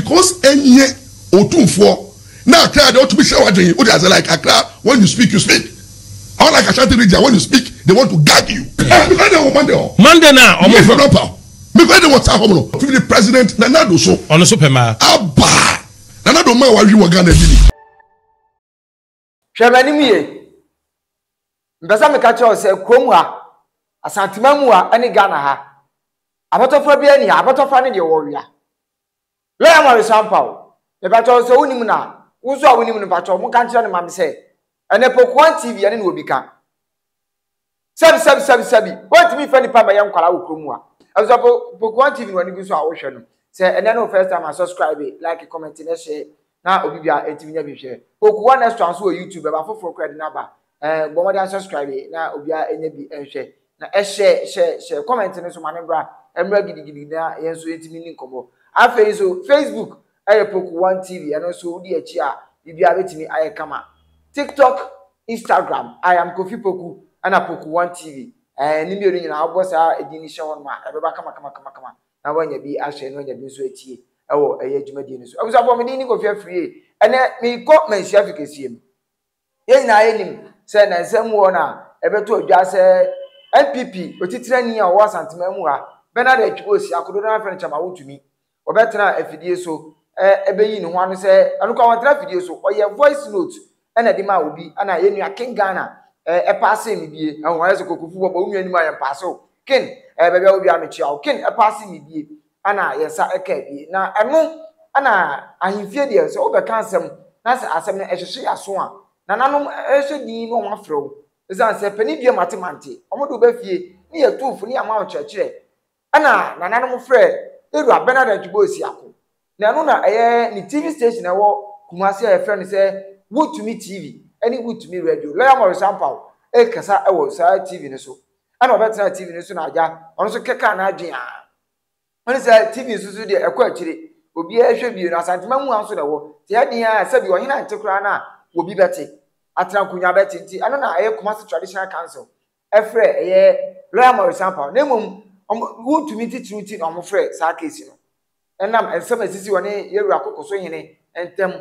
Cos ɛnyɛ otumfoɔ na akra deɛ ɔtumi hyɛ wadwen wode ase like akra when you speak you speak unlike ashanti region when you speak they want to gag you. Ah mekɔ ɛdɛn wɔ Monday hɔ. Monday no a ɔmo. Mefrɛ Rapper mekɔ ɛdɛn wɔ saa hɔ mono. Firi de president Nana Addo so. Ɔno so pɛ maa. Aba Nana Addo maa wawe wɔ Ghana ɛdi ni. Hwɛ m'anim yie. Mpɛ sɛ meka kyerɛ wo sɛ kurom ha, Asanteman mu ha ne Ghana ha, abɔtɔfra biara ni ha. Abɔtɔfra ne deɛ wɔwea. Lɔya Mɔre Sampaw, mepakyɛw sɛ wonim no a, wo nso a wonim no pakyɛw monka nkyerɛ no ma me sɛ ɛnɛ Pokuan TV ɛne no wɔ bi ka. Sɛbi sɛbi sɛbi sɛbi wɔntumi nfa nipa mɛyɛ nkwalaa wɔ kurom a Abusafo Pokuan TV no w'ani gu so a wohwɛ no sɛ ɛnɛ ne wo first time a subscribe like comment na share na obi bia ɛntumi nya bi hwɛ Pokuan next one so wɔ YouTube ɛba foforɔ kora de no aba ɛɛ bɔ mmɔden subscribe na obi a ɛnya bi ɛnhwɛ na ɛhyɛ hyɛ hyɛ comment no so ma ne mbra ɛmra gidigidi na yɛn nso yɛntumi ni nkɔmɔ afei nso Facebook Ɛyɛ Poco One TV, ɛno nso wodi akyi a biribiara betumi ayɛ kama. TikTok, Instagram, I am Kofi Poku, ɛna Poco One TV. Ɛɛ, ne mmienu nyinaa wobɔ saa edin no hyɛ hɔ nom a, ɛbɛba kama kama kama kama na woanya bi ahwɛ na woanya bi nso atie ɛwɔ ɛyɛ dwumadie no so. Abusuafoɔ, me din ne Kofi Afriyie. Ɛnɛ, mekɔ Manhyia Fikasua mu. Yɛn nyinaa yɛnim sɛ nnansa mu wɔn a ɛbɛto adwa sɛ NPP otitirani a ɔwɔ Asanteman mu ha, Bernard Atwiwosi, akododoɔ no ara frɛ no Kyama Wotumi, ɔbɛtena afidie so bɛyi ne ho ano sɛ, ɛno koraa wantena afidie so, ɔyɛɛ voice note na ɛde maa obi, ɛna yɛn nua King Ghana ɛpaase me bie, ɛho ayɛ sɛ kɔkɔfu bɔbɔ, wo nua anim ayɛ mpaase o, King, ɛɛ baabi a wɔ biara mekyea wo, King ɛpaase me bie. na yɛn nsa ka abie. Na ɛno na ahemfie deɛ sɛ wobɛka asɛm na sɛ asɛm no ɛhyehye yɛaso a, nananom hyɛ din na wɔafrɛ wo. Ɛsiane sɛ panin dua mate mante, wɔde wo ba fie ne yɛatu fo ne yɛama wo nkyerɛkyerɛ. Ɛna nananom frɛ Ewura Bernard Antwiboye Siako. Na ɛno na ɛyɛ ne TV station a ɛwɔ Kumasi a yɛfrɛ no sɛ Wotumi TV ne Wotumi Radio. Lɔya Maurice Ampaw rekasa wɔ saa TV no so. Ɛna ɔbɛtenaa TV no so na agya ɔno nso kɛkaa n'adwene a. Ɔne sɛ TV nso so deɛ ɛkɔ akyire. Obiara hwɛ bio no Asantema mua nso na ɛwɔ. Te ɛyɛ den ara sɛbi ɔhene ante koraa no a obi bɛte. Atena nkonnwa bɛte nti ɛno na ɛyɛ Kumasi Traditional Council ɛfrɛ ɛyɛ Lawyer Morris Ampaw na mmom wɔn wontumi titiriw nti na wɔfrɛ saa case no. Ɛnam nsɛm a esisii ɔne yɛn wura kokoso hene ntam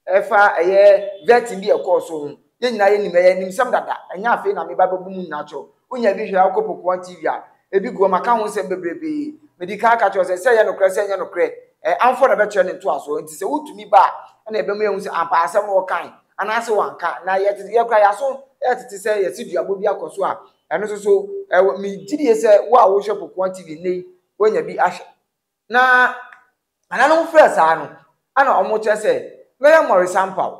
ɛfa ɛyɛ vetting bi a ɛkɔɔ so ho. Yɛn nyinaa yɛnim ɛyɛ animsɛm dada. Ɛnyɛ afei na meba bɛbɔ mu nyinaa kyerɛ wo. Wonya bi hwɛ a wokɔ pokuwa TV a, ebi gu hɔ maka ho nsɛm bebrebe. Mede kan aka kyerɛ wo sɛ, sɛ ɛyɛ nokorɛ sɛ ɛnyɛ nokorɛ, ɛyɛ amfo na ɛbɛkyerɛ ne ntoasoɔ. Enti sɛ wotumi ba a, ɛna yɛbɛma yɛahu sɛ ampa asɛm no ɔkae anaasɛ wanka. Na yɛtete, yɛn koraa yɛn aso yɛ tete sɛ yɛte duabɔ bi akɔ so a ɛno nso so ɛwɔ. Megye die sɛ wo a wohwɛ pokuwa TV nnɛ yi, woanya bi ahwɛ. Na nananom frɛ saa no, ana wɔkyerɛ sɛ mɛyɛ mmɔresampaw.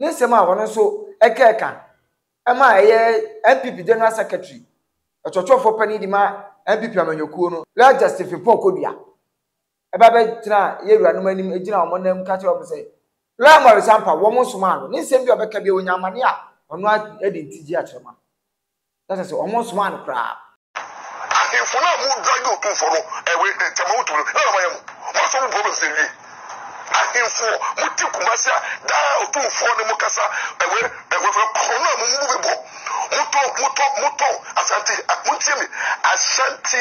Ne nsɛm a ɔno nso ɛkaa ka ma ɛyɛ NPP General Secretary, ɔkyerɛkyerɛfoɔ panin de ma NPP amanyɔkuo no, Lɛgya Stephen Paul Kodua, ɛba bɛgyinaa yɛn wuranom anim gyinaa wɔn nan mu ka kyerɛɛ wɔn sɛ Lɔya Mmɔresampaw, wɔn nsomaa no. Ne nsɛm bi a ɔbɛka biara, ɔnya amane a, ɔno ara de ntigyeɛ akyerɛ ma. na kyerɛ sɛ wɔnsomaa no koraa. Ahenfo no a mo dwa yɛ otumfoɔ no ɛwe ntɛm a wotumi no dɛn na ɔma yɛ mo? Mo asɔ mo problems no awie. Ahenfoɔ mo te kumase a daa otumfoɔ ne mo kasa ɛwe ɛwe fɛ korɔ no a mo mu bi bɔ mo tɔ mo tɔ mo tɔ Asante a montie me Ashanti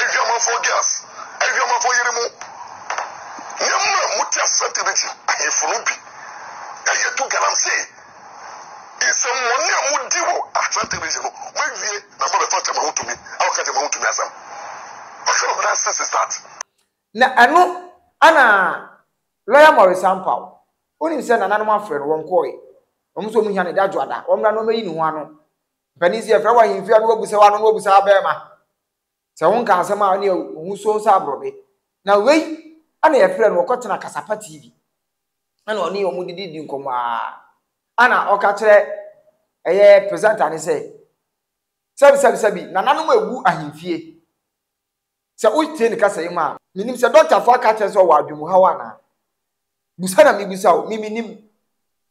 Adwamanfoɔ girls, adwamanfoɔ yere mu nneɛma a mote aseɛ te bi gye ahemfo no bi ɛyɛ to galamsey. Nsɛmmɔne a modi wɔ Asante region no, moawie na moabɛfa Tema ho tumi a wɔka Tema ho tumi asɛm. What kind of nonsense is that? Na ɛno ɛna Lawyer Maurice Ampaw, wonim sɛ nananom afrɛ no, wɔnkɔɔe. Wɔn nso wɔhia no Dadwoada, wɔmmra na wɔmmɛyi ne ho ano Mpanin si ɛfrɛ wɔ ahemfie ano obu sɛ wano na obu sɛ abɛɛma. Sɛ ho nka asɛm a ɔne ohu so sɛ aborɔbe. Na wei ɛna yɛfrɛ no ɔkɔ tena kasapa TV. Ɛna ɔne ɔmo didi di nkɔmɔ aa. Ɛna ɔka kyerɛ ɛyɛ presenter ne sɛ sɛbi sɛbi sɛbi nananom awu ahemfie. Sɛ wotie ne kasa yi mu a, minnim sɛ dɔktafo aka akyerɛ sɛ ɔwɔ adwenemhaw anaa. Bisa na mibisa o, me minnim.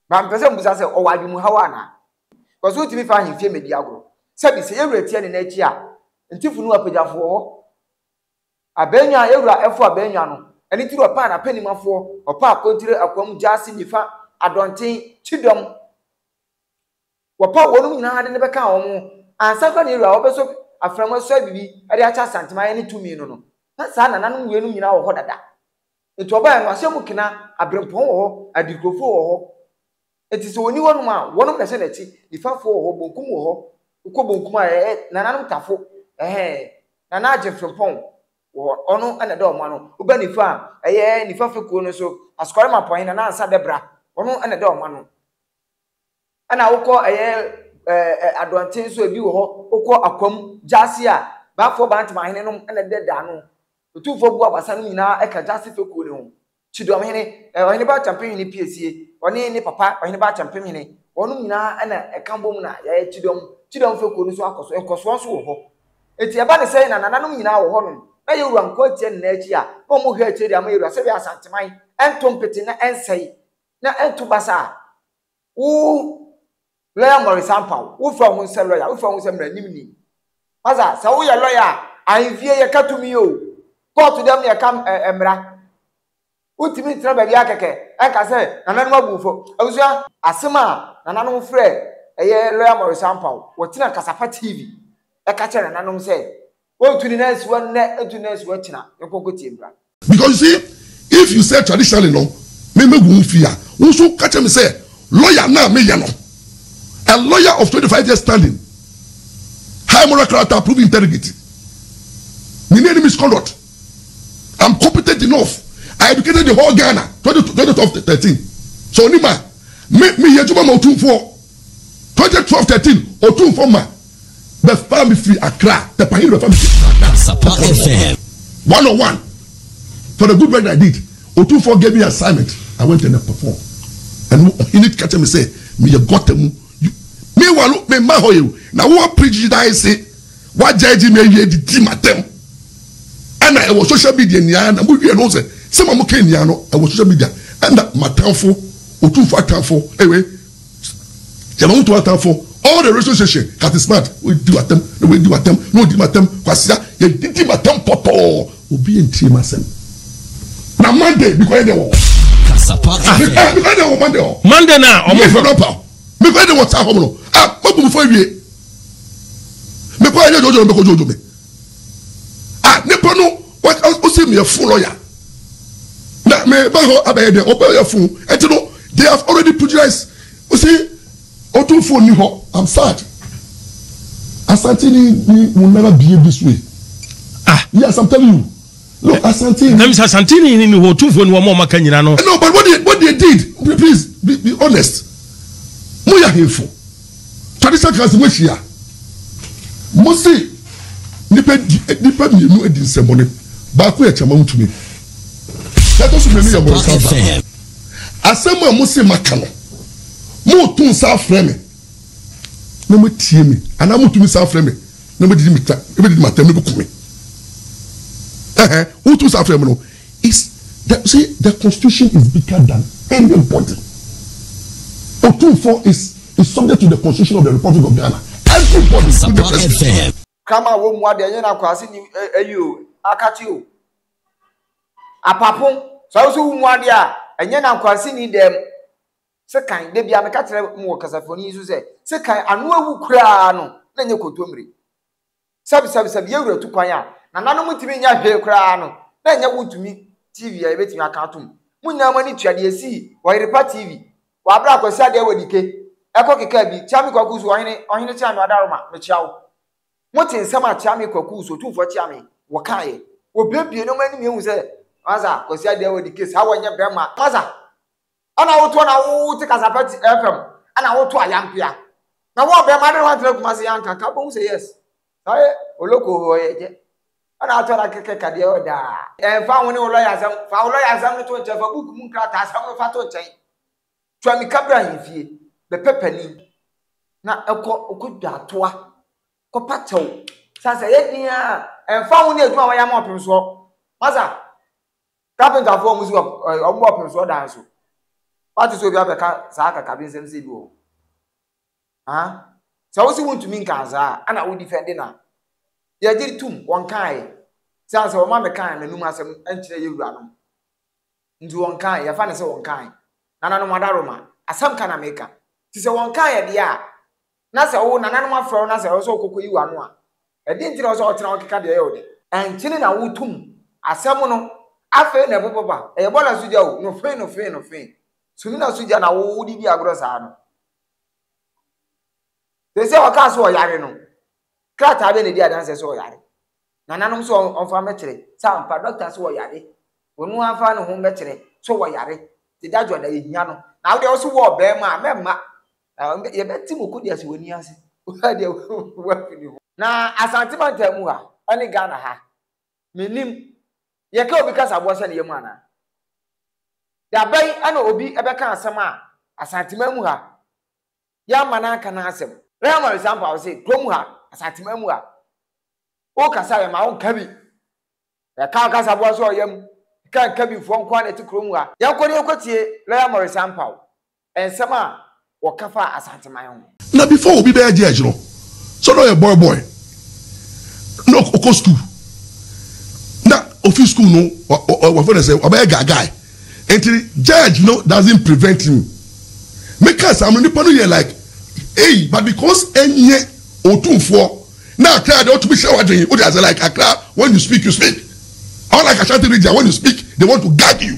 But mepɛ sɛ mubisa sɛ ɔwɔ adwenemhaw anaa. Because wotumi fa ahemfie mmedi agorɔ. Sɛbi, sɛ yɛwura tia ne nan akyi a, nti funu apagyafo wɔ hɔ. Abɛɛnwa a yɛwura ɛfo abɛɛnwa no, ɛno nti na ɔpaa n'apɛnimafoɔ, ɔpaa Akontire, Akwam, Gyaase, Nifa, Adɔnten, Kyidɔm. Wɔpaw wɔnom nyinaa de no bɛkaa wɔn ho. Ansa koraa na Yehu a ɔbɛsɔ afram asu ayɛ biribi de akyɛ Asantemaeɛ ne tumi no no, na saa nananom weinom nyinaa wɔ hɔ dada. Enti ɔbaeɛ no, ahyɛn mu kena, aberempɔn wɔ hɔ, adirikurofoɔ wɔ hɔ. Enti sɛ ɔnni hɔnom a, wɔnom na ɛhyɛ n'akyi, nifafoɔ wɔ hɔ, bonkum wɔ hɔ. Wokɔ bonkum a, ɛɛ, nananom tafo, ɛhɛɛ, nana agyefrempɔn wɔ hɔ, ɔno na ɛda wɔn ano. Woba nifa a, ɛyɛ nifa fekuo no so, Asukwarimapɔn he, Nana Ansa Dɛbra, ɔno na ɛda wɔn ano. ɛna wokɔ ɛyɛ ɛɛ adɔnten nso ebi wɔ hɔ wokɔ akwam gyaase a baafoɔ bantama hene nom ɛna ɛdɛ da ano otumfoɔ bu abasa no nyinaa ɛka gyaase fekuo no ho kyidɔm hene ɛɛ ɔhene ba akyɛmpem hene piesie ɔne ne papa ɔhene ba akyɛmpem hene wɔnom nyinaa ɛna ɛka bom na yɛyɛ kyidɔm kyidɔm fekuo no nso akɔ so nkɔsoɔ nso wɔ hɔ eti ɛba ne sɛ na nananom nyinaa wɔ hɔ nom na yɛwura nko atia ne nan akyi a na wɔn hwɛ akyire de ama yɛwura sɛ wia asanteman ɛnto mpete na ɛnsɛe na ɛnto basa a. Wo lɔya Maurice Ampaw, wofa ho sɛ lɔya, wofa ho sɛ mmaranim ni. Ɔsa, sɛ woyɛ lɔya a, ahemfie yɛka tumi o, kɔɔto dɛm na yɛka mmara. Wontumi ntena baabi ara kɛkɛ nka sɛ nananom abu wo fɔ. Abusua, asɛm a nananom frɛ ɛyɛ lɔya Maurice Ampaw, wɔtena Kasafa TV ɛka kyerɛ nananom sɛ Wɔntu ne nan nsiwa nnɛ, ntu ne nan nsiwa kyena, yɛnkɔ nkɔtie mmra. Because you see, if you say traditionally no, me mɛgu wo fi a, wo nso ka kyerɛ me sɛ lawyer no a meyɛ no, a lawyer of twenty five years standing, high moral character, proven integrity, menni any misconduct, I'm competent enough, I educated the whole Ghana, twenty twenty twelve thirteen, sɛ onim a, me meyɛ adwuma ma Otumfoɔ, twenty twelve thirteen, Otumfoɔ ma. bɛfaa me firi Accra, Pɛpa Hene bɛfaa me firi Accra, Ghana, Asapa Kɔkɔɔ no FM. One on one for the good work that I did, Otumfoɔ gave me assignment, I went and I perform, ɛno Ɔhene ka kyerɛ me sɛ meyɛ gutter mu, you, meanwhile no memma hɔ yɛ o, na wo a preach dae se woajudge me awie de di m'atɛm, ɛna ɛwɔ social media nyinaa na mowie no ho sɛ sɛma moka nyinaa no ɛwɔ social media, ɛna m'atamfo, Otumfoɔ atamfo, ewe, Yɛ ma wo to atamfo All the radio station Captain Smart W'adi w'atam na w'adi w'atam na odi m'atam Kwasea yɛ didi m'atam pɔtɔɔ Obi ntie m'asɛm Na Monday me kɔ yɛ dɛ wɔ Kasapa FM Me kɔ yɛ dɛ wɔ Monday hɔ Monday na ɔmo Me kɔ yɛ dɛ Me kɔ yɛ dɛ wɔ saa hɔ mo no Ah mo bu mo fɔ awie Me kɔ yɛ dɛ jojo me kɔ jojo me Ah nipa no. Ɔse meyɛ fo lɔya na meba hɔ abɛyɛ dɛ ɔbɛ yɛ fo ɛti no they have already pugilize ɔse ɔtum fo ni hɔ I'm sad Asante ni ni mu nana bie bi so e ah yes I'm telling you no Asante ni ɛmi sɛ Asante ni ni hɔ ɔtum fo ni wɔn ɔma ka nyina no no but what they what they did please be, be honest mo yɛ ahemfo. Tradition kaa sɛ moahyia mo se nnipa di nnipa mmienu adi nsɛmmɔne baako yɛ kyama ntumi na ɛtɔ so mmienu yɛ bɔnsa ba asɛm a mo se maka no moto nsa afrɛ me na moatie me anaa moto nsa afrɛ me na mobɛdidi meta mobɛdidi matam mobɛku me ɛhɛ woto nsa afrɛ me no Is the say the constitution is bigger than any body Otumfoɔ is is subject to the constitution of the republic of Ghana every body including the president. Kraman wɔ mua deɛ ɛnyɛ na akwase ni ɛyi o akate o apapon sɛ woso wo mua deɛ a ɛnyɛ na akwase ni dɛm se kan de bia meka kyerɛ mo wɔ kasafoni so sɛ se kan ano awu koraa no na ɛnyɛ kontomire Sɛbsɛbsɛb yɛ wura tu kwan a nananom ntumi nyɛ hwee koraa no na ɛnyɛ wontumi TV a yɛbɛtumi aka atom mo nyinaa mo ani tua deɛ ɛsii wɔ Yerepa TV wɔ aberɛ a Kwasi Adeawodike ɛkɔ kekaa bi Kyeame Kwaku so ɔhene ɔhene Kyeame Ɔdaroma mekyea wo mo te nsɛm a Kyeame Kwaku so Otumfoɔ Kyeame wɔ kaeɛ wɔ bue bue no mo anim yɛhu sɛ Masa Kwasi Adeawodike saa wɔ nyɛ bɛma Masa Ɛna wotoɔ na wote kasafa ti ɛfam ɛna woto ayampea na wɔn bɛn ma de wɔn atena kumase yɛ anka ka bom sɛ yes sɔre oloko hɔ yɛ kyɛ ɛna atɔ na kɛkɛ kadeɛ wɔ daa ɛnfa ho ne wo lɔya asɛm fa wo lɔya asɛm no to nkyɛn fa buku mu nkrataa asɛm no fa to nkyɛn tua mika bra ahemfie bɛpɛ panin na ɛkɔ ɔkɔ dwa atoa kɔpa kyɛw sasa yɛ din a ɛnfa ho ne adwuma wɔyɛ ama ɔpem soɔ masa Carpenter foɔ ɔmo si ɔp ɛɛ ɔmo bɔ ɔpemsoɔ dan so. Wate sɛ obi abɛka saa kakabe nsɛm sei bi wɔ hɔ? Haa? Sɛ wo se wo ntumi nkaa saa a, ɛna wo defend no a, deɛ gye tum, wɔnkaeɛ. Sane sɛ wɔma mekaa m'anum asɛm nkyerɛ yɛn wuranom. Nti wɔnkaeɛ, yɛfa no sɛ wɔnkaeɛ. Nananom adaworoma, asɛm ka na meka. Nti sɛ wɔnkaeɛ deɛ a, na sɛ wo nananom afrɛ wo na sɛ ɛwɔ sɛ wokɔkɔyi w'ano a, ɛdeɛn nti na ɛwɔ sɛ wotena hɔ keka deɛ ɛyɛ wo dɛ? Ɛnkyene na wotum asɛm no. Afei na ɛpopoba. Ɛyɛ bɔɔla so gya o, nofee nofee nofee. Sumina so gya na wo wode di agorɔ saa no. Seesei ɔkaa sɛ ɔyare no, krataa bɛn na ɛdi adanseɛ sɛ ɔyare? Nananom sɛ ɔmfa mmɛkyerɛ sɛ ampa dɔkta sɛ ɔyare. Ɔno ara mfa ne ho mmɛkyerɛ sɛ ɔyare. Nti dadwoa da yɛhia no. Na wodeɛ wose wowɔ ɔbɛɛma a, mɛmma. Na yɛbɛte mo kodi ase wɔ ani ase. Obiara deɛ wafi ne ho. Na Asante mantam mu ha ne Ghana ha mennim yɛka obi kasaboɔ sɛ ne yam anaa? Da bɛn na obi bɛka asɛm a Asanteman mu ha yɛamma no anka no asɛm? Rehema Risampah ɔse kurom ha Asanteman mu ha wokasa a yɛmma wo nka bi yɛka wo kasaboa sɛ ɔyam ɛka nka bi foɔ nko ara na ɛte kurom ha. Yɛnkɔ na yɛnkɔtie Rehema Risampah. Nsɛm a wɔka faa Asanteman ho. Na before obi bɛyɛ judge no sɛ na ɔyɛ boy boy na ɔkɔ school na ofi school no wɔfrɛ no sɛ wabɛyɛ guy guy nti judge no doesn't prevent him me ka saa no nipa no yɛ like eii but because ɛnyɛ otumfoɔ na akra deɛ ɔtumi hyɛ wadwen wode ase like akra when you speak you speak unlike Ashanti region when you speak they want to gag you.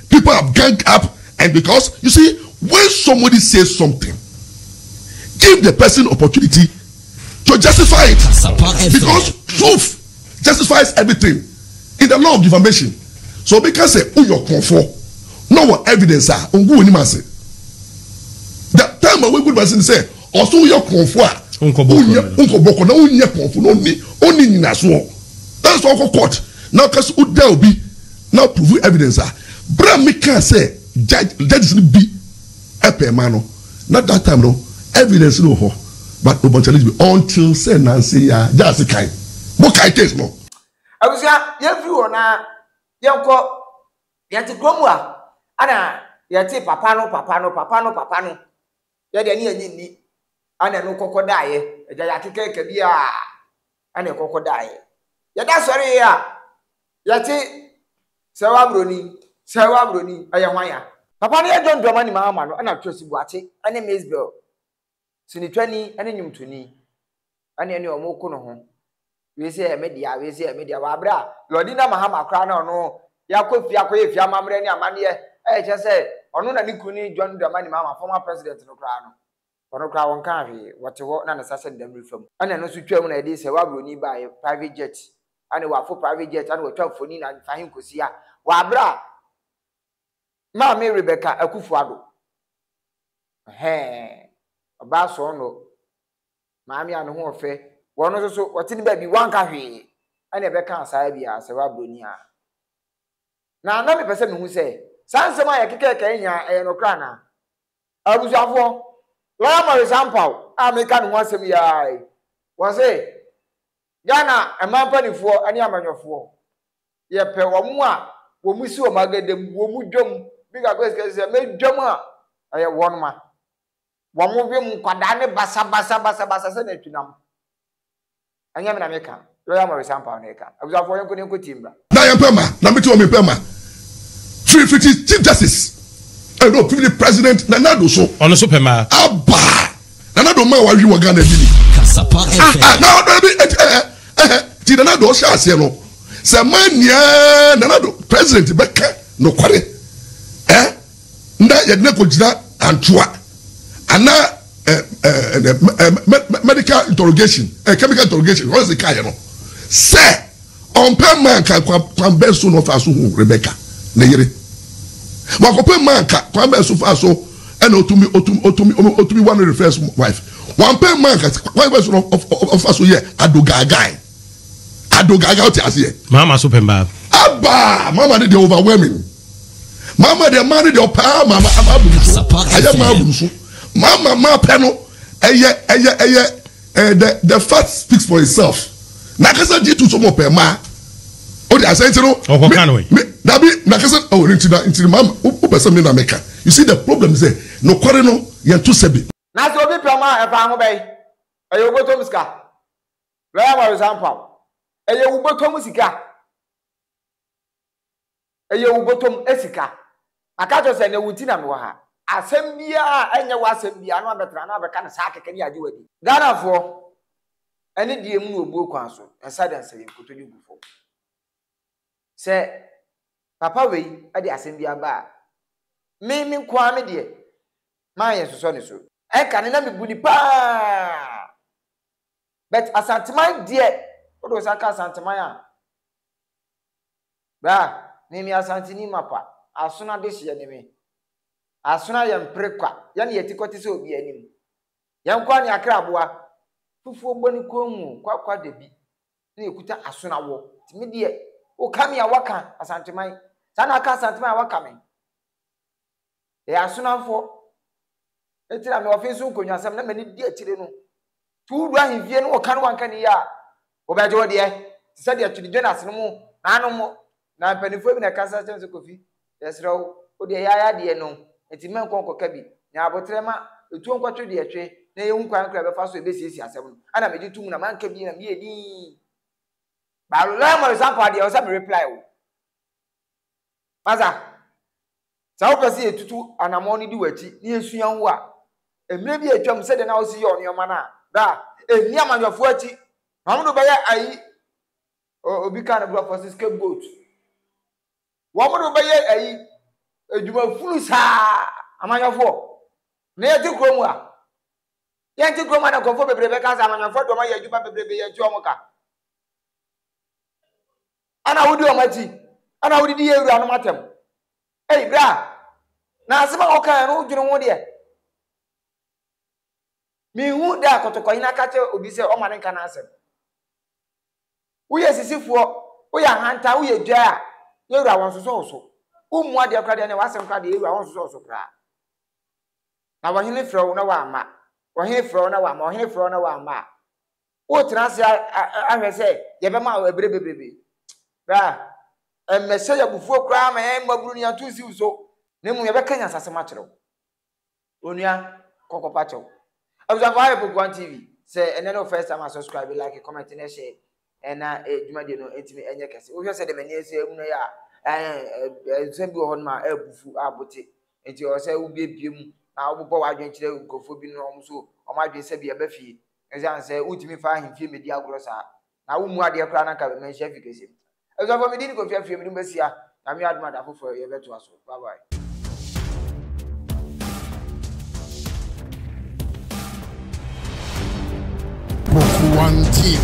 People have ganged up and because you see when somebody says something give the person opportunity to justify it because truth justifies everything in the law of defamation so obi ka sɛ woyɛ ɔkɔnfoɔ na ɔwɔ evidence a ongu wɔ nim ase the time a wogu nim ase ni sɛ ɔso woyɛ ɔkɔnfoɔ a nkɔbɔkɔ na wonyɛ kɔnfoɔ na ɔni ɔni nyinasoɔ that's why ɔkɔ court na ɔka sɛ woda obi. na ɔprovu evidence a berɛ a me kaa sɛ judge judges no bi pɛɛ ma no na that time no evidence no wɔ hɔ but ɔbɔ challenge bi until sɛ nanse yi ara judge se kae mo kae case no. Abusua yɛn firi hɔ na yɛn kɔ yɛn te kurom a ɛna yɛn te papa no papa no papa no papa no yɛ deɛ ne yɛn nye nni ɛna ɛno kɔkɔ daeɛ ɛgya yɛ akeka ɛka bi a. ɛna ɛkɔkɔ daeɛ yɛda sɔre yɛ a yɛte sɛ wa broni sɛ wa broni ɛyɛ hwan ya papa no yɛ John Dramani Mahama no ɛna Twesi Boakye ɛne Maysbel sinitwani ɛne nnwomtoni ɛne ɛne ɔmo ko no ho wei sɛ yɛ media wei sɛ yɛ media wɔ abere a Lordina Mahama koraa na ɔno yɛakɔ fie akɔyɛ fie amammerɛ ne amanneɛ ɛyɛ kyɛ sɛ ɔno na ne kunu ne John Dramani Mahama former president no koraa no Ɔno koraa wɔnkaa hwee, wɔte hɔ na ne sa sɛ dam refa mu. Ɛna ɛno nso twaam na yɛde sɛwa buroni baeɛ, private jet, ɛne wafo private jet, ɛna watwa mfoni na mfa he nkɔsi a wabrɛ a Maame Rebecca Akufo-Addo. Ɛhɛɛ, ɔbaa sɔɔnnɔ, maame a ne ho ɔfɛ, wɔno nso so wɔte ne baabi wanka hwee, ɛna ɛbɛkaa saa bi a sɛwa buroni a. Na na mepɛ sɛ mehu sɛ saa nsɛm a yɛkekae kae nyinaa ɛyɛ nokorɛ anaa? Abusuafoɔ, Lawyer Maurice Ampaw a mereka ne ho asɛm yi ara yi, ɔse, Ghana mmaa mpaninfoɔ ne amanyɔfoɔ, yɛpɛ wɔn a wɔsi wɔn agadam, wɔn dwam, bi kakra a sika sisi a, mɛdwam a, ɛyɛ wɔn ma. Wɔwem nkwadaa ne basabasa basabasa sɛ nantwinam. Ɛnyɛ me na meka, Lawyer Maurice Ampaw na ɛka. Abusuafoɔ, yɛnkɔ na yɛnkɔtie mmra. Na yɛmpɛ mma, na mete hɔ mempɛ mma. Firi fiti Chief Justice, eh no, firi President Nana Addo so. Ɔno nso pɛ mma. Aba! Nana Addo mma a wɔawe wɔ Ghana bi ni? Kasapa FM. Ah ah, na ɔdɔ bi, enti ɛhɛ, ɛhɛ, nti Nana Addo ɔhyɛ aseɛ no, sɛ mmaa ni a, Nana Addo, President, bɛka nokware, eh? na yɛde no akɔgyina antoa anaa medical interrogation eh, chemical interrogation wɔn sɛ kaayɛ no sɛ ɔmpɛ mmaa nka kwan bɛn so na ɔfa so hu rebeka ne yere wakɔpɛ mmaa nka kwan bɛn so fa so ɛna otumi otumi otumi otumi wa no refers wife wampɛ mmaa nka kwan bɛn so na ɔfa so yɛ adogaagaa. ado gaagaa ɔte aseɛ. mama so pɛ mbaa. abaa mama ne deɛ overwhelming mama deɛ maa ne deɛ ɔpaa mama ama abunu so ɛyɛ maa abunu so mama maa pɛ no ɛyɛ ɛyɛ ɛyɛ ɛɛ the the fact speaks for itself n'akasa di tu so mo pɛ maa o de asɛn ti no. ɔkɔ kan o ye. dabi n'akasa ɔ oh, ne nti na nti mama o o pɛ sɛ mi na mi ka you see the problem is ɛ nɔkɔri no yɛn to sɛbi. na sɛ obi pɛ maa ɛfa ho bɛyi ɛyɛ obotom sika. Bɛyɛ awaresɛe ampa o. Ɛyɛ wo bɔtɔ mu sika. Ɛyɛ wo bɔtɔ mu sika. Maka kyerɛ wo sɛ ɛnɛ wo nti na mewɔ ha. Asɛm biara a ɛnyɛ w'asɛm biara na wabɛtra na wabɛka no saa kɛkɛ ne agye wo adi. Ghanafoɔ, ɛne deɛ mu na obuo kwan so, ɛnsa da nsɛyɛ nkotodwe gu fam. Sɛ papa wei de asɛm bi aba a, me me nko ara me deɛ, m'ayɛ nsosɔ ne so. Ɛnka ne na mebu no paa. But Asanteman deɛ wode wo nsa ka Asanteman a bra me me Asanteni mapa asono adehyeɛ ne me asono a yɛmpere kwa yɛne yɛti kɔte sɛ obi anim yɛnkɔ a ne akra aboa fufuo bɔ ne kɔn mu kwakwa da bi na yɛkuta asono awɔ nti me deɛ woka me a waka Asanteman saa na aka Asanteman a waka me Yɛyɛ asonamfoɔ. Enti na mewɔ fenso nkonnwasɛm na m'ani di akyire no. To wodu ahemfie no wɔka no wanka ne yie a, wɔbɛgye wo deɛ. Te sɛ deɛ Twene Jonas no mu n'ano mo na mpanimfoɔ bi na ɛkasa kyerɛ me sɛ Kofi, yɛsrɛ wo, wo deɛ yɛayɛ adeɛ no enti mɛnkɔ nkɔka bi. Nya aboterɛ ma etuo nkɔtwe deɛ ɛtwe na yɛnhu kwan korɔ a yɛbɛfa so a yɛbɛsiesie asɛm no. Ana megye tom na manka bi na meyɛ dinn. Baa Lawyer Morris ampa deɛ ɛwɔ sɛ mereply wo. Pasa, Sɛ wopɛ sɛ yetutu anammɔn no di w'akyi na yesua wo a, mmere bi a atwam sɛnea na wosi yɛ nneɛma no a, bra. Enni amanyɔfo akyi. Na wɔde wo bɛyɛ ayi. O, obi kaa no Borɔfo se scapegoat. Wɔde wo bɛyɛ ayi, adwumafunu saa, amanyɔfo. Na yɛte kurom a, yɛnte kurom a na nkurɔfo bebree bɛka sɛ amanyɔfo de wɔn ayɛ adwuma bebrebe, yɛnte wɔn ka. Ana wodi wɔn akyi? Ana wodidi yɛn wuranom atɛm? Ei, bra! Na asɛm a wokae no, wodwene ho deɛ? Menhu da a kɔtɔkɔhena ka kyerɛ obi sɛ ɔmma no nka n'asɛm. Woyɛ sisifoɔ, woyɛ ahantan, woyɛ dwa a, yɛn wura wɔnsosɔ wo so. Wommu adeɛ koraa deɛ, ɛnneɛ w'asɛm koraa deɛ, yɛn wura wɔnsosɔ wo so koraa. Na ɔhene frɛ wo na woamma, ɔhene frɛ wo na woamma, ɔhene frɛ wo na woamma a, Wotena ase ahwɛ sɛ yɛbɛma wo bere bebrebe. Bra, mmɛhyɛ yɛn abufuo koraa ma yɛn mmabunu no yɛnto nsi wo so, na mmom yɛbɛka nyansasɛm akyerɛ wo. Onua, kɔ kɔpa kyɛw. Abusuafo, ha yɛ Poku One TV. Sɛ ɛnɛ ne wo first time a, subscribe, like, comment, na share. Ɛna dwumadie no ntumi ɛnyɛ kɛse. Wohwɛ sɛ deɛ m'ani ɛsɛ ɛmu no yɛ a, nsɛm bi wɔ hɔ nom a ɛbufu a bote. Nti ɛwɔ sɛ wobiebie mu na wobobɔ w'adwene kyerɛ nkurɔfoɔ bi no wɔn nso wɔn adwene sɛbi ɛba fie. Esiane sɛ wotumi fa ahemfie mmedi agorɔ saa, na wommu adeɛ koraa na anka manhyia afi kɛseɛ mu. Abusuafoɔ, mede Nikofie afie mede mo bɛsia. Nyame adom a da foforɔ yɛbɛtoa so. Bye bye. Pokuwan TV.